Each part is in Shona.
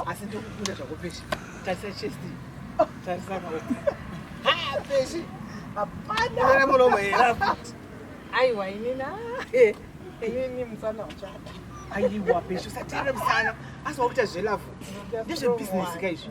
asi ndokukunda zvako peshi tarisa chest oh, tarisa maoko ha peshi hapana mulomo hera futi aiwa inini eh, inini musana uchada aiwa peshi usateere musana asi wakuita zvelavu ndezvebusiness ka izvi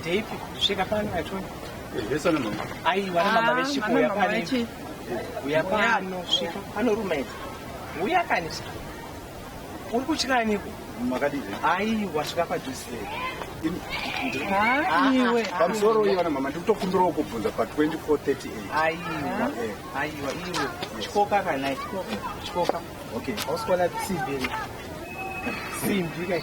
Ndeipi svika pano achona Yesana mama. Ai wana mama ah, vechiko yapani. Uya pano svika pano rume. Uya kanisa. Uri kutya niko? Makadii? Ai wasvika padhuze. Aiwe. Pamusoro uyu wana mama ndikutokumbirawo kubvunza pa 2438. Aiwa. Aiwa iwe. Chikoka kana chikoka. Chikoka. Okay. Hausikona simbi. Simbi kai.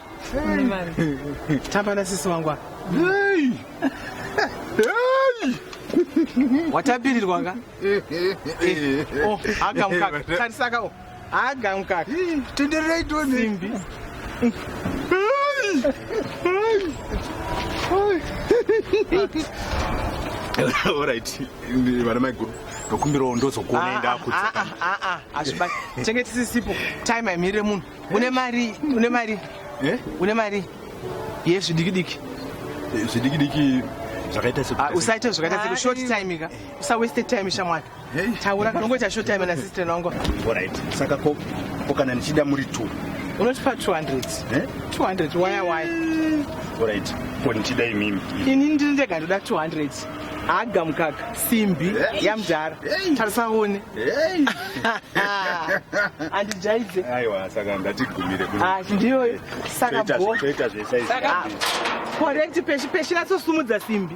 Tamba na sisi wangu. Hey! Hey! Watapirirwa ka? Eh, oh, aga mukaka. Tarisa ka. Oh. Aga mukaka. Tenderei tuone. Simbi. Hey! Hey! Alright. Vana mai guru. Ndokumbirawo ndozokuonai ndakuti. Ah ah ah. Azvibati. Chengeti sisipo. Time imire munhu. une mari une mari eh? une mari yezvidikidiki eh, zvidikidiki zvakaita se ah, usaite zvakaita se ah, short eh. time ka usawaste time shamwari taura kana ungoita short time na sister nangu alright saka ko ko kana ndichida muri two unotipa 200 eh 200 waya waya alright ko ndichida imimi ini ndiri ndega ndoda 200 Haga mukaka simbi yamdhara tarisa one andijaidze aiwa saka ndatigumire ah, ndiyoyo saka bo saka correct peshi peshi natsosumudza simbi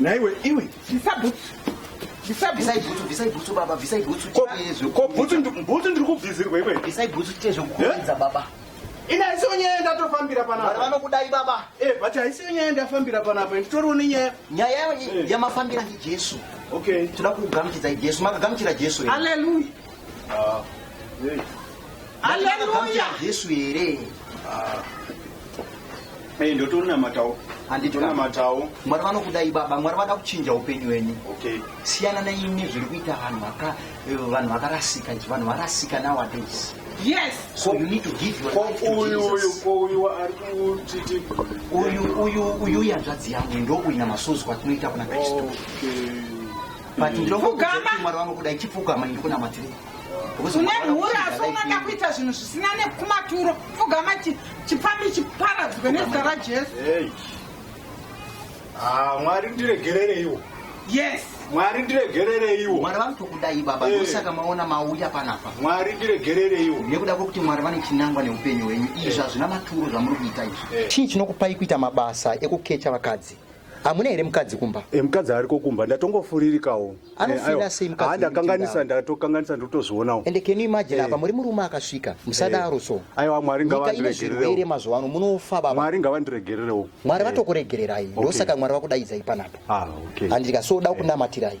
Naiwe iwe bvisa bhutsu. Bvisa bhutsu. Bvisai bhutsu baba, bvisai bhutsu. Ko bhutsu bhutsu ndiri kubvisirwa iwe. Bvisai bhutsu tiye zvekukuudza baba. Ina haisi nyaya ndatofambira panapa. Vanhu vanokudai baba. Eh, but haisi nyaya ndafambira panapa. Nditoriwo nenyaya. Nyaya yamafambira ndiJesu. Okay. Tinoda kugamuchidza Jesu. Makagamuchira Jesu. Hallelujah. Hallelujah. Jesu here? Ah. Hey, ndotori namatawo handiti namatawo mwari vanokudai baba mwari vada kuchinja upenyu wenyu okay. siyana naimi zviri kuita vanhu eh, vanhu vakarasika nji vanhu varasika nowadays yes so you need to give your life to jesus uyu ari kutiti uyu uyu uyu yanzvadzi yangu ndouina masozi kwatinoita kuna kristu okay. but ndinokuti mwari wangu kuda ichipfugama ini kunamatiri une mhuri asi unoda kuita zvinhu zvisina nekumaturo pfugama chipfambi chiparadzwe nezita rajesu ah, mwari ndiregerereiwo yes mwari ndiregerereiwo mwari vanotokudai baba hey. Eh. ndosaka maona mauya panapa mwari ndiregerereiwo nekuda kwekuti mwari vane chinangwa neupenyu hwenyu izvi eh. hazvina maturo zvamuri kuita izvi eh. chii chinokupai kuita mabasa ekukecha vakadzi hamuna here mukadzi kumba e, mukadzi ariko kumba ndatongofuririkawo anofiraseimukadhandakanganisa eh, ndatokanganisa ndotozvionawo ende can you imagine eh. apa muri murume akasvika musadaro so aiwa mwari ngavandiregererewo mazuva ano munofa baba mwari ngavandiregererewo mwari vatokuregererai ndosaka mwari vakudaidzai panapo ah, handika so da kunamatirai